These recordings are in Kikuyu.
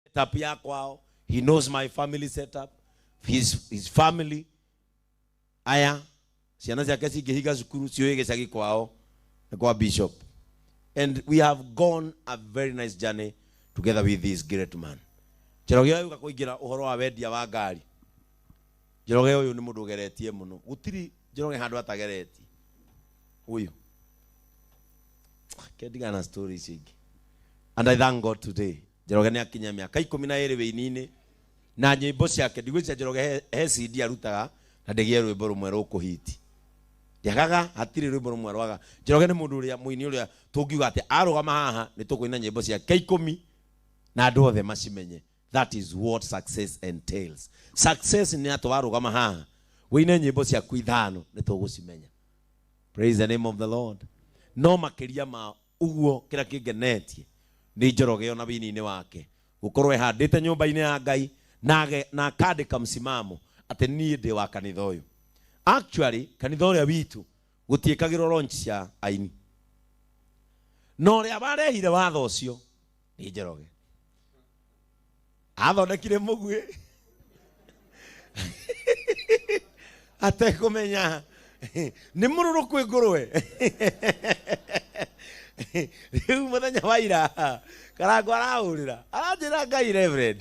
setup ya kwao he knows my family setup his, his family aya ciana ciake cingĩhinga cukuru ciũĩ gĩcagi kwao na kwa bishop and we have gone a very nice journey together with this great man njoroge ũyũ gakũingĩra ũhoro wa wendia wa ngari njoroge ũyũ nĩ mũndũ ũgeretie mũno gũtirĩ njoroge handũ atageretie ũyũ kendigana na story icio ingĩ and i thank god today Njoroge nĩ akinyia mĩaka ikũmi na ĩrĩ wĩini-inĩ na nyĩmbo ciake. Ndigwĩciria Njoroge he, he CD arutaga na ndĩgĩe rwĩmbo rũmwe rũkũhiti. Ndĩagaga, hatirĩ rwĩmbo rũmwe rwaga. Njoroge nĩ mũndũ ũrĩa mũini ũrĩa tũngiuga atĩ arũgama haha nĩ tũkũina nyĩmbo ciake ikũmi na andũ othe macimenye. That is what success entails. Success nĩ atĩ warũgama haha wĩine nyĩmbo ciaku ithano nĩ tũgũcimenya. Praise the name of the Lord. No makĩria ma Ũguo kĩrĩa kĩngenetie nĩ Njoroge o na wini-inĩ wake gũkorwo ehandĩte nyũmba-inĩ ya Ngai na na akandĩka msimamo atĩ niĩ ndĩ wa kanitha ũyũ. Actually kanitha ũrĩa witũ gũtiĩkagĩrwo launch cia aini. Na ũrĩa warehire watho ũcio nĩ njoroge athondekire mũguĩ atekũmenya nĩ mũrũrũ kwĩ ngũrwe rĩu mũthenya wa ira karango arahũrĩra aranjĩra ngai reverend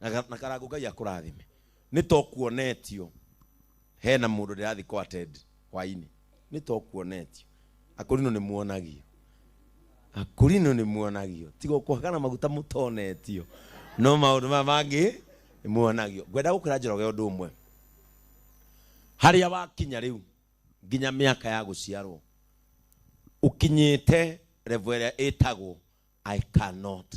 na ga- na karangu ngai akũrathime nĩ tokuonetio hena mũndũ ndĩrathiĩ kwa ted hwainĩ nĩ tokuonetio akũrinũ nĩ muonagio akũrinũ nĩ muonagio tiga ũkũhagana maguta mũtonetio no maũndũ maya mangĩ nĩ muonagio ngwenda gũkwĩra njoroge ũndũ ũmwe harĩa wakinya rĩu nginya mĩaka ya gũciarwo ũkinyĩte revo ĩrĩa ĩtagwo i cannot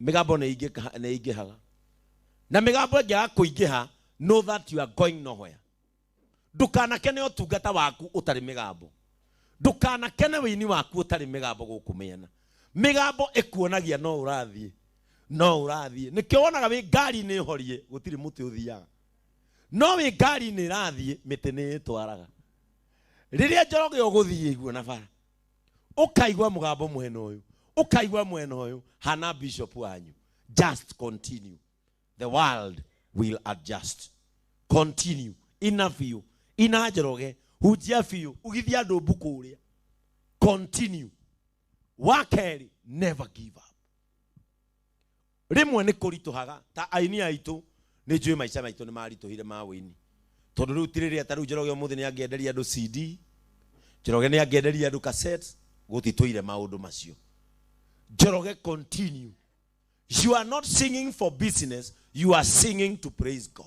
mĩgambo nĩ ingĩka- nĩ ingĩhaga na mĩgambo ĩngĩaga kũingĩha know that you are going nowhere ndũkanakene ũtungata waku ũtarĩ mĩgambo ndũkanakene wĩini waku ũtarĩ mĩgambo gũkũ mĩena mĩgambo ĩkuonagia no ũrathiĩ no ũrathiĩ nĩkĩo wonaga wĩ ngari-inĩ horie gũtirĩ mũtĩ ũthiaga no wĩ ngari-inĩ ĩrathiĩ mĩtĩ nĩ ĩtwaraga rĩrĩa njoroge ũgũthiĩ iguo na bara ukaigua mugambo mwena uyu ukaigua mwena uyu hana bishop wanyu just continue the world will adjust continue ina biũ ina njoroge hunjia biũ ũgithia andũ mbuku ũrĩa continue wa kerĩ never give up rĩmwe nĩ kũritũhaga ta aini aitũ nĩ njũĩ maica maitũ nĩ maritũhire ma ũini tondũ rĩu ti rĩrĩa ta rĩu njoroge ũmũthĩ nĩ angĩenderia andũ cd njoroge nĩ angĩenderia andũ cassette gũtitũire maũndũ macio njoroge continue you are not singing for business you are singing to praise god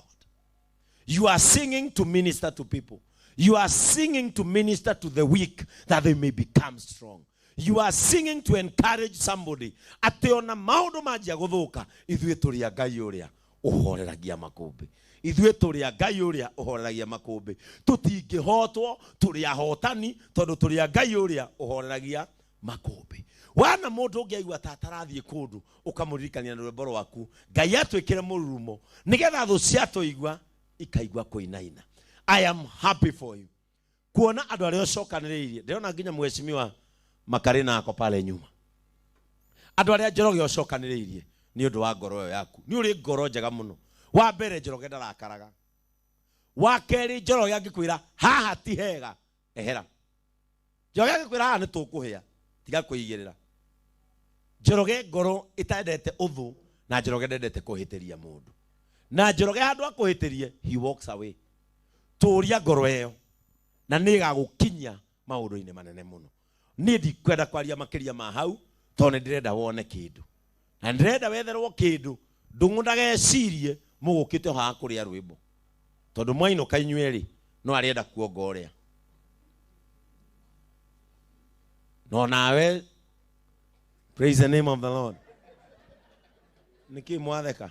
You are singing to minister to people. You are singing to minister to the weak that they may become strong. You are singing to encourage somebody. Atĩ ona maũndũ manjia gũthũka, ithuĩ tũrĩ a Ngai ũrĩa ũhoreragia makũmbĩ. Ithuĩ tũrĩ a Ngai ũrĩa ũhoreragia makũmbĩ. Tũtingĩhotwo, tũrĩ ahotani, tondũ tũrĩ a Ngai ũrĩa ũhoreragia makũmbĩ wana mũndũ ũngĩ aigua ta atarathiĩ kũndũ ũkamũririkania na rwĩmbo rwaku ngai atwĩkĩre mũrurumo nĩgetha thũ ciatũigua ikaigua kũinaina i am happy for you kuona andũ arĩa ũcokanĩrĩirie ndĩrona nginya mheshimiwa makarĩ nako pale nyuma andå arä a njoroge å cokanä rä irie nä å ndå wa ngoro ä yo yaku nä å rä ngoro njega må no wa mbere njoroge ndarakaraga wa kerä njoroge angä kwä ra haha ti hega ehera njoroge agĩkwĩra haha nĩ tũkũhĩa tiga kwĩigĩrĩra njoroge ngoro ĩtendete ũthũ na njoroge ndendete kũhĩtĩria mũndũ na njoroge handũ akũhĩtĩrie he walks away tũũria ngoro ĩyo na nĩ ĩgagũkinyia maũndũ-inĩ manene mũno niĩ ndikwenda kwaria makĩria ma hau tondũ nĩ ndĩrenda wone kĩndũ na ndĩrenda wetherwo kĩndũ ndũng'ũ ndagecirie mũgũkĩte haha kũrĩa rwĩmbo tondũ mwainũka inyuerĩ no arenda kuonga ũrĩa no nawe praise the name of the lord nĩkĩ mwatheka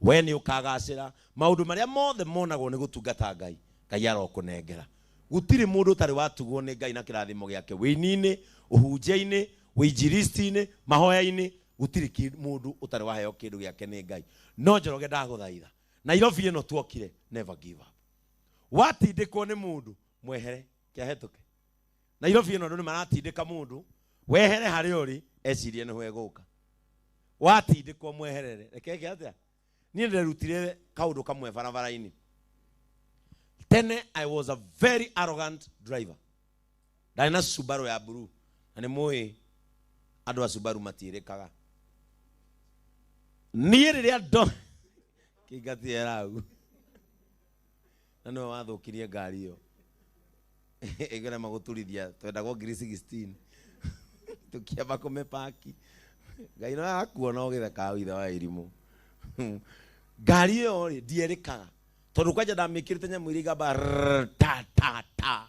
Wee nĩ ũkagacĩra. Maũndũ marĩa mothe monagwo nĩ gũtungata Ngai, Ngai arokũnengera. Gũtirĩ mũndũ ũtarĩ watugwo nĩ Ngai na kĩrathimo gĩake wĩini-inĩ, ũhunjia-inĩ, ũinjilisti-inĩ, mahoya-inĩ, gũtirĩ kĩndũ mũndũ ũtarĩ waheo kĩndũ gĩake nĩ Ngai. No Njoroge ndagũthaitha, Nairobi ĩno twokire, never give up. Watindĩkwo nĩ mũndũ, mwehere, kĩahĩtũke. nairobi ĩno andũ nĩ maratindĩka mũndũ wehere harĩa ũrĩ ecirie nĩho egũka watindĩkwo mweherere rekeke atĩa niĩ nderutire kaũndũ kamwe barabara-inĩ tene i was a very arrogant driver ndarĩ na subaru ya blue na nĩ mũĩ andũ a subaru matiĩrĩkaga niĩ rĩrĩa ndo kĩngatiera hau na nĩwe wathũkirie ngari ĩyo ĩkĩrema gũturithia twendaga o ngiri 16 tũkĩamba kũmĩpaki ngai no yakuona ũgĩthekaga withe wa irimũ ngari ĩyo rĩ ndierĩkaga tondũ kwanja ndamĩkĩrĩte nyamũ iria igamba rrrr, ta ta ta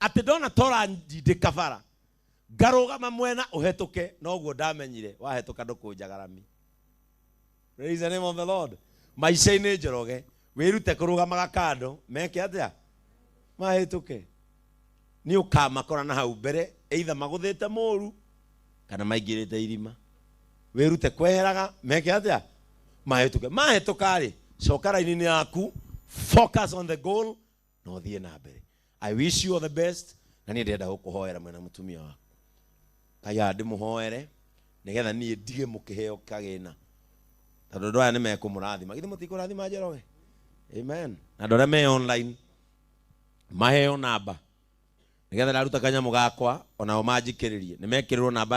atĩ ndona ta ũranjindĩka bara ngarũgama mwena ũhetũke noguo ndamenyire wahetũka ndũkũnjagarami Praise the name of the Lord. maica-inĩ njoroge wĩrute kũrũgamaga kando meke atĩa mahĩtũke nĩ ũkamakora na hau mbere eitha magũthĩte mũru kana maingĩrĩte irima wĩrute kweheraga meke atĩa mahĩtũke mahĩtũka-rĩ coka raini-inĩ yaku focus on the goal na ũthiĩ na mbere i wish you all the best na niĩ ndĩrenda gũkũhoera mwena mũtumia waku ngai aya ndĩmũhoere nĩgetha niĩ ndige mũkĩheo kagĩna tondũ andũ aya nĩ mekũmũrathima githĩ mũtikũrathima njoroge amen na andũ arĩa me online maheo namba nĩgetha ndaruta kanyamũ gakwa onao manjikĩrĩrie nĩ mekĩrĩrwo namba